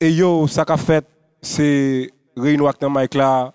Ey yo sa kap fèt se reyino ak nan Mike la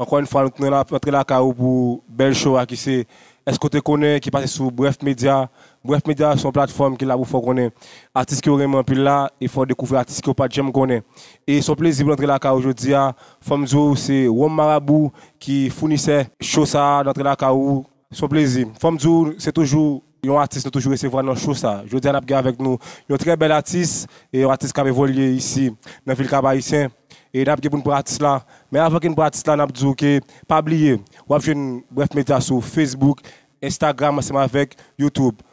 ankò yn fwa nou kntan ap antre lakay ou pou bèl show a kise eske ou te konnen ki pase sou bref media bref media se yon platfòm ki la pou fèw konnen atis kew renmen anpil la e fèw dekouvri atis kew pat janm konnen e se yon plezi pou n antre lakay ou jodia fòm diw se Rhum Marabou ki founisè show sa nan antre lakay ou. Son plezi. Fòm di w se toujou yon atis nou toujou resevwa nan show sa. Jodi a nap gen avèk nou yon trè bèl atis, yon atis kap evolye isi nan vil Kap Ayisyen e nap gen pou n pran atis la. Men avan ke n pran atis la nap di w ke pa bliye wap jwenn Bref Media sou Facebook, Instagram ansanm avèk YouTube.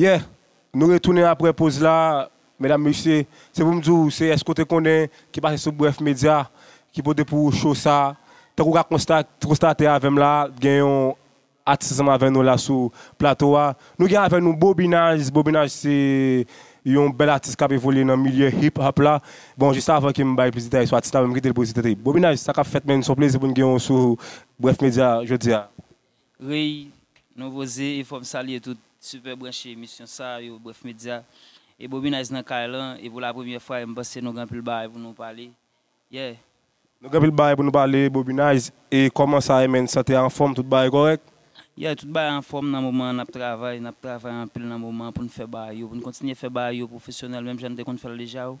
Yeah! Nou retounen aprè poz la medam mesye, se pou m di w se èske w te konnen ki pase sou Bref Media ki pote pou ou show sa. Tank ou ka konstate avè m la gen yon atis ansanm avè nou la sou plato a. Nou gen avè nou Bobinage, Bobinage se yon bèl atis kap evolye nan milye hip hop la. Bon jis avan ke m bay plis detay sou atis la m kitel prezante. Bobinage sa kap fèt menn? S on plezi pou n gen w sou Bref Media jodia. Rey, Nouvo Ze e fòm salye tout Super branche emisyon sa yo Bref Media e Bobinayz nan kay lan e pou la premyè fwa e m panse nou gen anpil bagay pou nou pale yeah. Nou gen anpil bagay pou nou pale Bobinayz e kòman sa ye menn sante a anfòm tout bagay kòrèk? Yeah tout bagay anfòm nan moman an n ap travay n ap travay anpil nan moman an pou n fè bagay yo pou n kontinye fè bagay yo pwofesyonèl menm jan n te konn fè l deja oh.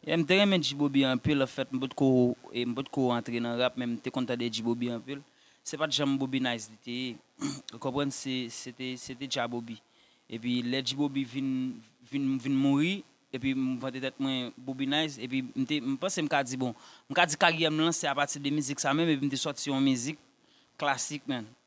Yeah m te renmen G-bobby anpil an fèt m pot ko m pot ko antre nan rap men m te konn tande G-bobby anpil se pat janm Bobby Nice li te ye ou konprann se se te se te G-bobby epi lè G-bobby vin vin vin mouri epi m vante tèt mwen Bobby Nice epi m te m panse m ka di bon m ka di karyè m lan se apati de mizik sa menm epi m te sòti yon mizik klasik man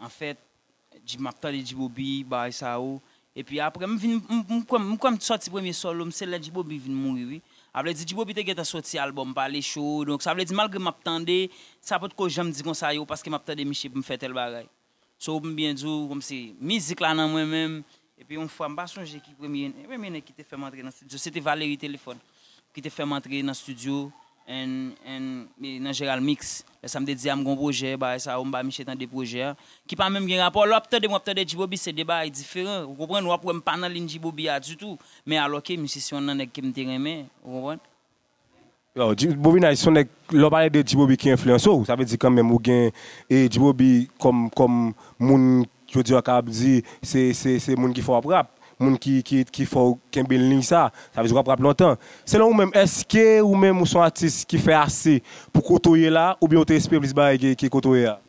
Anfèt Dji map tande Djiboby bagay sa yo epi aprè m vin m kwè m kwè m t sòti premye solo m se lè Djiboby vin mouri wi avledi Djiboby te gentan sòti album pale cho donk sa vle di malgre map tande sa potko janm di konsa yo paske map tande miche pou m fè tèl bagay so m byen di w kòmsi mizik la nan mwen menm Epi yon fwa, m pa sonje ki premye premye nèg ki te fè m antre nan stidyo, se te Valery Telefòn ki te fè m antre nan stidyo and and nan Gérald Mix. Lè sa m te di a m gen yon pwojè, bagay sa yo, m bay miche tande pwojè a, ki pa menm gen rapò. Lè w ap tande m, w ap tande G-Bobby, se 2 bagay diferan, ou konprann? Ou ap wè m pa nan lin G-Bobby a ditou, men alò ke misye se yon nan nèg ke m te renmen, ou konprann? Bobinay son nèg lè w pale de Djibobi ki enfliyanse w sa vle di kanmenm ou gen Djibobi kòm kòm moun jodi an ka ap di se se se moun ki fè w ap rap moun ki ki ki fè w kenbe liy sa sa vle di w ap rap lontan selon ou menm èske ou menm ou son atis ki fè ase pou kote w ye la oubyen ou te espere plis bagay ke ke kote w ye a?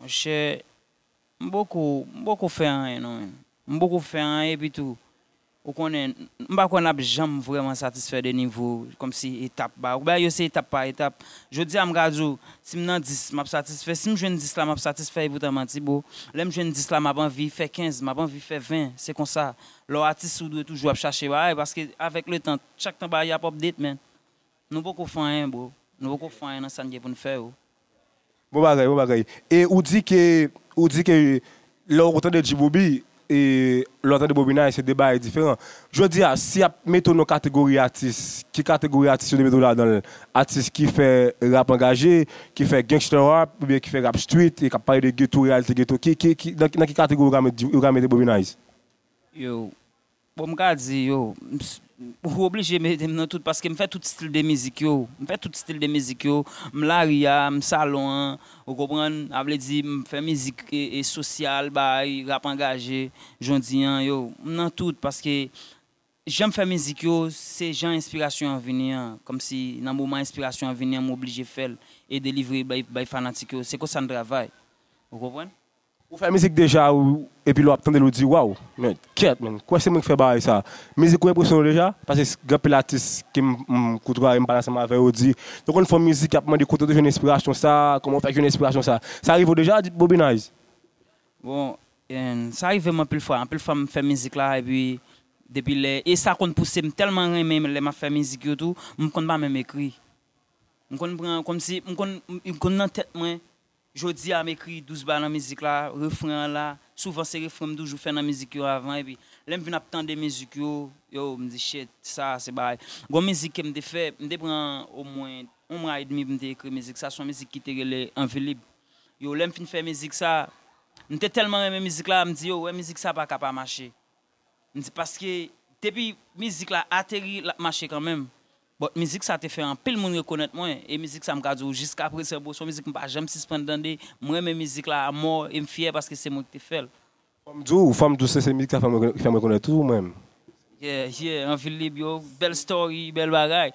Monchè M poko, m poko fè anyen non menm. M poko fè anyen epi tou ou konnen m pa kwè n ap janm vrèman satisfè de nivo kòmsi etap ba bagay yo se etap pa etap. Jodi a m ka di w si m nan 10 m ap satisfè, si m jwenn 10 la m ap satisfè epoutan manti bro. Lè m jwenn 10 la m ap anvi fè 15, m ap anvi fè 20 se konsa lè w atis ou dwe toujou ap chache bagay paske avèk letan chak tan bagay yo ap update man. Nou poko fè anyen bro. Nou poko fè anyen nan sa n gen pou n fè yo. Bon bagay bon bagay e ou di ke ou di ke lè ou tande G-bobby e lè ou tande Bobinaye se 2 bagay diferan jodi a si yap mete w nan kategori atis ki kategori atis yo dwe mete w ladan l atis ki fè rap angaje ki fè gangsta rap oubyen ki fè rap street e kap pale de geto reyalite geto ki ki nan ki kategori yo ka mete Bobinaye? Yo Bon m ka di yo, ou oblije mete m nan tout paske m fè tout stil de mizik yo, m fè tout stil de mizik yo, m lari a, m salon an, ou konprann, a vle di m fè mizik sosyal bay, rap angaje, jodi an yo, m nan tout paske jan m fè mizik yo se jan enspirasyon an vini an, kòmsi nan moman enspirasyon an vini an m oblije fè l e delivre bay fanatik yo, se konsa n travay, ou konprann. Ou fè mizik deja ou epi lè wap tandel ou di waww men kyèt men kwè se mwen ki fè bagay sa mizik ou enpresyonew deja paske gen pil atis kem kotwaye m pale ansanm avè yo di yo konn fon mizik yap mande kote ou te jwenn enspirasyon sa kòman ou fè jwenn enspirasyon sa sa rivew deja Bobinayz? Bon sa rivem anpil fwa anpil fwa m fè mizik la epi depi lè e sa konn pouse m tèlman renmen lè map fè mizik yo tou m konn pa menm ekri m konn pran kòmsi m konn nan tèt mwen Jodi a m ekri douz ba nan mizik la, refren an la, souvan se refren m toujou fè nan mizik yo avan epi lè m vin ap tande mizik yo, yo m di shit sa se bagay. Gon mizik ke m te fè, m te pran omwen yon mwa edmi pou m te ekri mizik sa, son mizik ki te rele anvi lib. Yo lè m fin fè mizik sa, m te tèlman renmen mizik la, m di yo wè mizik sa pa ka pa mache. M di paske depi mizik la ateri l ap mache kanmenm. But mizik sa te fè anpil moun rekonèt mwen, e mizik sa m ka di w jiska prezan bro son mizik m pa janm sisprann tande, m renmen mizik la amò e m fyè paske se mwen ki te fè l. Fò m di w, fò m di w se se mizik sa ki fè m rekonèt tou mwen m. Yeah yeah anvil lib yo bèl story bèl bagay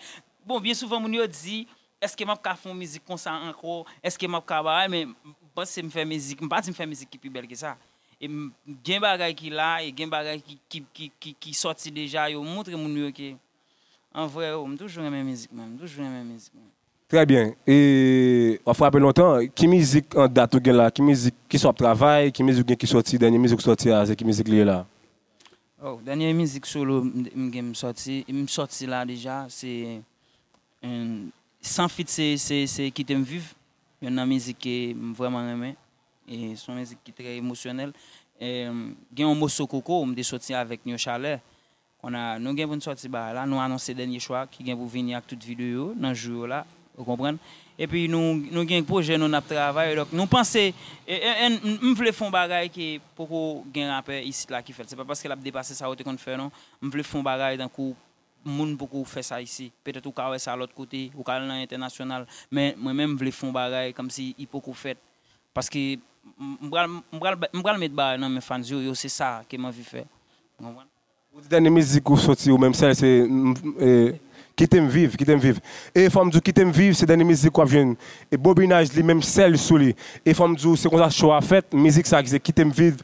bon byen souvan moun yo di eske map ka fè yon mizik konsa ankò eske map ka bagay men panse m fè mizik m pa di m fè mizik ki pi bèl ke sa e m gen bagay ki la e gen bagay ki sòti deja yo moutre moun yo ke An vre oh, m toujou renmen mizik mwen, m toujou renmen mizik mwen. Trè byen, e wap frape lontan, ki mizik an dat ou gen la, ki mizik, kisa wap travay, ki mizik ou gen ki sòti, dènye mizik ou sòti a se ki mizik li ye la? Oh, dènye mizik solo m gen m sòti, m sòti la deja se san feat se se kite m viv, yonn nan mizik ke m vrèman renmen, e son mizik ki trè emosyonèl, gen yon moso koko m te sòti avèk Nyochalè, Konnya nou gen pou n sòti bagay la, nou anonse dènye chwa ki gen pou vini ak tout videyo yo nan jou yo la, ou konprann. Epi nou gen pwojè nou n ap travay, donk nou panse m vle fon bagay ke poko gen rapè isit la ki fè l, se pa paske l ap depase sa yo te konn fè non, m vle fon bagay tankou moun poko fè sa isi, petèt ou ka wè sa lòt kote, ou ka al nan entènasyonal, men mwen menm m vle fon bagay kòmsi i poko fèt, paske m pral met bagay nan men fans yo, yo se sa ke m anvi fè, ou konprann. Ou di dènye mizik ou soti ou menm sèl se Kitem viv, kitem viv e fòm diw kitem viv se dènye mizik wap jwenn bobinaj li menm sèl sou li e fòm diw se konsa cho a fèt mizik sa ki se kitem viv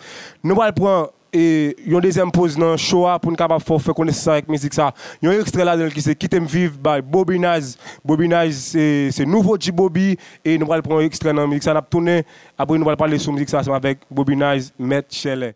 nou pral pran yon dezyèm poz nan cho a poun kapab fè ou fè konesans avèk mizik sa yon ekstrè ladanl ki se kitem viv by bobinaj bobinaj se nouvo G Bobi e nou pral pran yon ekstrè nan mizik sa nap tounen apre nou pral pale sou mizik sa ansanm avèk bobinaj mèt chèlè.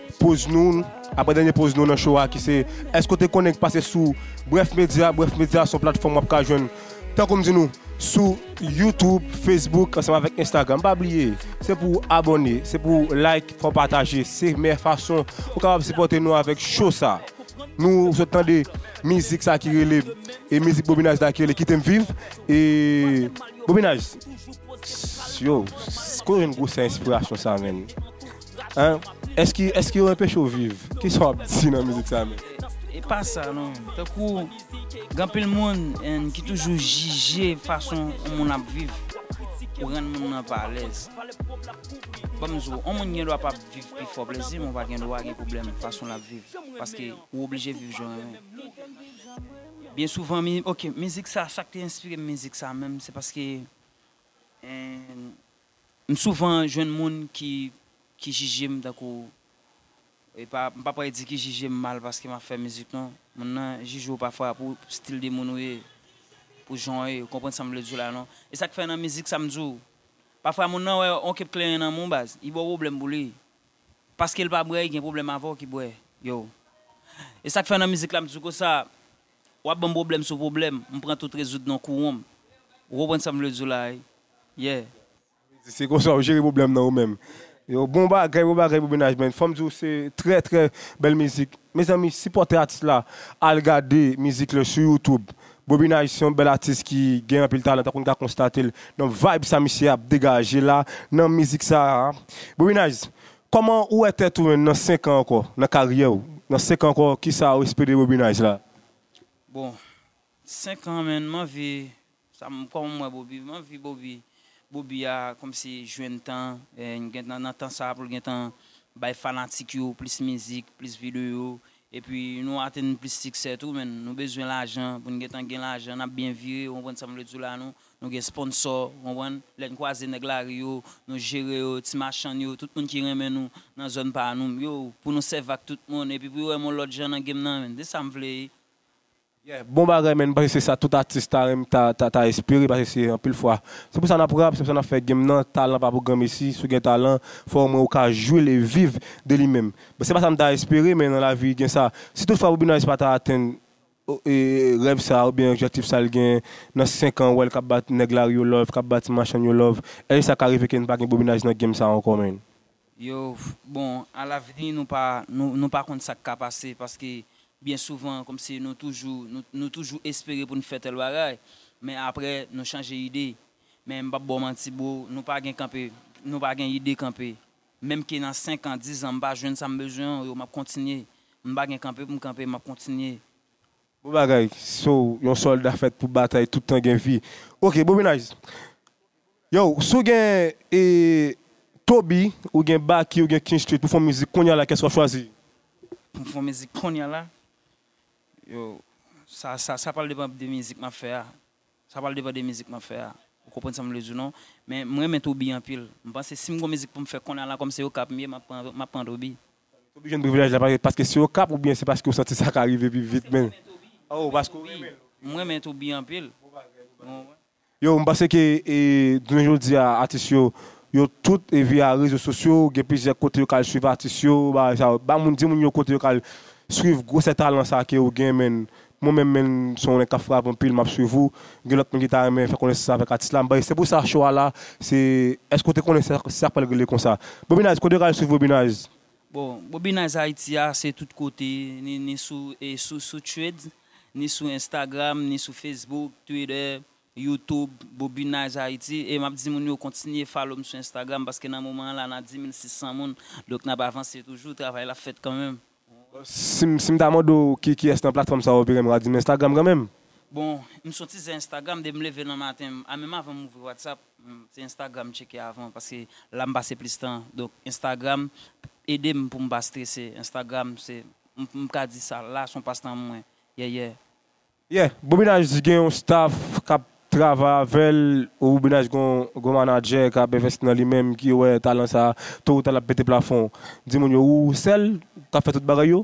Poz nou, Aprè dènye poz nou nan show a ki se Èske w te konnen ki pase sou Brèf Medya? Brèf Medya se yon platfòm w ap ka jwenn, tankou m di nou, sou YouTube, Facebook ansanm avèk Instagram. Pa bliye, se pou w abòne, se pou w like, fè w pataje. Se meyè fason ou kapab sipòte nou avèk show sa. Nou sot tande mizik sa ki rele, e mizik Bobinaj la ki rele Kite m viv. E Bobinaj, yow, kote w jwenn gwosè enspirasyon sa menn? Hein eske eske yo enpeche w viv kisa wap di nan mizik sa menm. Epa sa non tankou gen anpil moun en ki toujou jije fason yon moun ap viv ou rann moun nan pa alèz banm di w yon moun gendwa pa viv pi fò plezi men ou pa gendwa gen pwoblèm fason lap viv paske ou oblije viv jan ou renmen byen souvan ok mizik sa sak te enspire m mizik sa menm se paske en M souvan jwenn moun ki ki jije m tankou e pa m pa pral di ki jije m mal paske m ap fè mizik non, moun nan jije w pafwa pou stil de moun ou ye, pou jan w ye, ou konprann sa m vle di w la non. E sa k fè nan mizik sa m di w, pafwa moun nan wè yon kep kleren nan men w baz, li ba w pwoblèm pou li, paske l pa bwè li gen pwoblèm avè w ki bwè, yow. E sa k fè nan mizik la m di w konsa, Wap banm problèm sou problèm, m pran tout rezoud non kouwonm. Ou konprann sam vle di w la wi. Yeah. Sa vle di se konsa ou jere problèm nan ou menm. Yo bon bagay bon bagay pou mennaj men fòm diw se trè trè bèl mizik mezanmi sipòte atis la al gade mizik le sou YouTube Bobinage se yon bèl atis ki gen anpil talan tankou nou ka konstatel nan vibe sa misye ap degaje la nan mizik sa Bobinage Kòman ou wè tèt ou menm nan 5 an ankò, nan karyè ou, nan 5 an ankò kisa ou espere Bobinage la? Bon 5 an menn m anvi sa m kòman m wè Bobi, m anvi Bobi, Bobi a kòmsi jwenn tan gentan nan tan sa pou l gentan bay fanatik yo plis mizik, plis videyo epi nou atenn plis siksè tou menn, nou bezwen lajan pou n gentan gen lajan n ap byen vire ou konprann sa m vle di w la nou Nou gen sponsò, ou konprann, lè n kwaze nèg lari yo, nou jere yo, ti machann yo, tout moun ki renmen nou nan zòn pa nou m yo, pou nou sèvi ak tout moun, epi pou yo wè m yon lòt jan nan game nan, se sa m vle wi. Yeah, bon bagay man, m panse se sa tout atis ta renmn ta espere paske se anpil fwa se pou sa nap rap, se pou sa nap fè game nan, talan pa pou gran mesi, si w gen talan fò omwen ou ka jwe l e viv de li menm, se pa sa m ta espere men nan lavi gen sa, si tout fwa Bobby Nice pa ta atenn Rèv sa oubyen objectif sa li gen nan 5 an ou wèl kap bat nèg lari yo love kap bat ti machann yo love èske sa ka rive ke n pa gen bobinaj nan game sa ankò menn. Yo bon a lavni nou pa nou pa konn sak ka pase paske byen souvan kòmsi nou toujou nou toujou espere pou n fè tèl bagay men aprè nou chanje ide men m pap ba w manti bro nou pa gen kanpe nou pa gen ide kanpe Menm ke nan 5 an, 10 an m pa jwenn sa m bezwen an yo map kontinye. M pa gen kanpe pou m kanpe map kontinye. Bon bagay, so yon solda fèt pou batay tout tan gen vi. Ok Bobinaj, yow si w gen e Toby ou gen Baky ou gen King Street pou fon mizik kounya la kès wap chwazi? Pou m fon mizik kounya la? Yow sa sa pral depan de mizik map fè a. Sa pral depan de mizik map fè a. Ou konprann sam vle di w non. Men m renmen Toby anpil. M panse sim gon mizik poum fè kounye a la kòm se Okap m ye map pran map pran Toby. Toby jwenn privilèj la paske se Okap oubyen se paske ou santi sa ka rive pi vit menn? Oh paske ou renmen l. M renmen Toby anpil. Yo m panse ke jounen jodi a atis yo yo tout via rezo sosyo gen plizyè kote yo ka al swiv atis yo bagay sa yo. Ba moun di moun yo kote yo ka al swiv gwosè talan sa ke ou gen menn Mwen menm menn son w nèg kap frap anpil map swiv ou gen lòt moun ki ta renmen fè konesans avèk atis la m'bay se pou sa cho a la se èske ou te konnen sak pral regle konsa Bobinayz kote yo ka al swiv Bobinayz. Bon Bobinayz Haiti a se tout kote ni sou sou threads ni sou Instagram ni sou Facebook Twitter YouTube Bobinayz Haiti e map di moun yo kontinye follow m sou Instagram paske nan moman an la nan 10600 moun donk nap avanse toujou travay la ap fèt kanmenm. Si m ta mande w ki kiyès nan platfòm sa ou opere m ra di m Instagram kanmenm. Bon, m soti se Instagram depi m leve nan maten m, a menm avan m ouvri WhatsApp, se Instagram m tcheke avan paske la m pase plis tan. Donk Instagram ede m pou m pa strese, Instagram se m ka di sa la son pastan mwen, yè yè. Yeah Bobinaj gen yon staff kap travay avèl ou Bobinaj gen yon manager kap investi nan li menm ki wè talan sa to ou ta lap pete plafon di moun yo ou sèl kap fè tout bagay yo.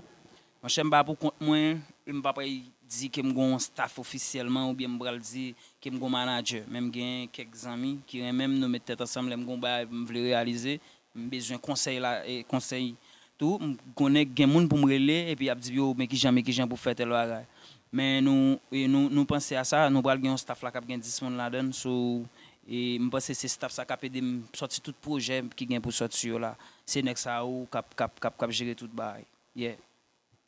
Monchè m pa pou kont mwen e m pa pral di ke m gen yon staff ofisyèlman oubyen m pral di ke m gen yon manager men m gen kèk zanmi ki renmen m nou met tèt ansanm lè m gen yon bagay pou m vle reyalize M bezwen konsèy la konsèy tou m konnen gen moun pou m rele epi ap di yo men kijan men kijan pou fè tèl bagay men nou nou nou panse a sa nou pral gen yon staff la kap gen 10 moun ladann so m panse se staff sa kap ede m sòti tout pwojè ki gen pou sòti yo la se nèg sa yo kap kap kap jere tout bagay yeah.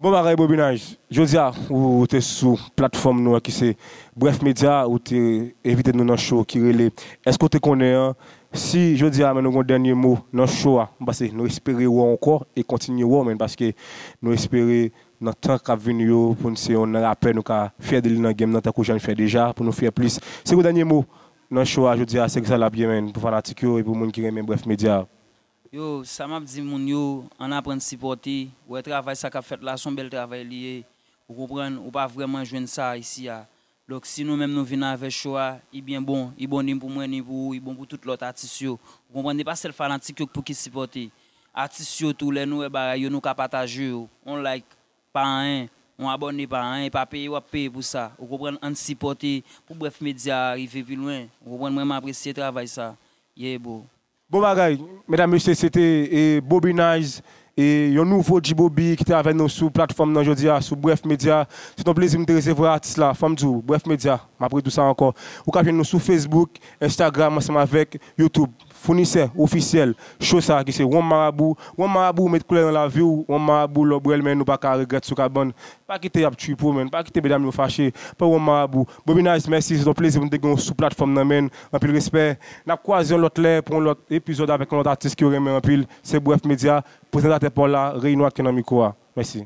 Bon bagay Bobinage! Jodi a ou te sou platfòm nou an ki se Bref Media, ou te envite nou nan show ki rele Èske ou te konnen an? Si jodi a men nou gen yon dènye mo nan show a, m panse nou espere wè w ankò e kontinye wè w menn paske nou espere nan tan k ap vini yo pou n se yon nan rapè nou ka fyè de li nan game nan tankou jan n fè deja pou nou fyè plis. Se gwo dènye mo nan show a jodi a se sa l ap ye menn pou fanatik yo e pou moun ki renmen Bref Media. Yo, sa map di moun yo, ann aprann sipòte, wè travay sa kap fèt la son bèl travay li ye, ou konprann, ou pa vrèman jwenn sa isi a, donk si nou menm nou vin avè cho a, i byen bon, i bon ni pou mwen ni pou ou, i bon pou tout lòt atis yo, ou konprann, e pa sèl fanatik yo k pou ki sipòte, atis yo tou lè nou wè bagay yo nou ka pataje yo, on like pa anyen, on abòne pa anyen, e pa peye wap peye pou sa, ou konprann, ann sipòte pou brèf medya a rive pi lwen, ou konprann, mwen m apresye travay sa, yeah bro. Bon bagay medam mesye se te Bobinayz e yon nouvo G-bobi ki te avè nou sou platfòm nan jodi a sou Brèf Medya. Se t on plezi m te resevwa atis la. Fò m di w, Brèf Medya, m ap redi w sa ankò, ou ka jwenn nou sou Facebook, Instagram ansanm avèk YouTube. Founisè ofisyèl show sa ki se Wonm Marabou. Wonm Marabou ou met koulè nan lavi w, Wonm Marabou lè w bwè l men nou pa ka regrèt sou kabann. Pa kite y ap tchwipo men, pa kite medam yo fache, pran Wonm Marabou. Bobinyce mèsi se t on plezi pou m te gen w sou platfòm nan menn anpil respè nap kwaze yon lòt lè pou yon lòt epizòd avèk yon lòt atis ke w renmen anpil se brèf media prezantatè pa w la reyino ak ke nan mikwo a mèsi.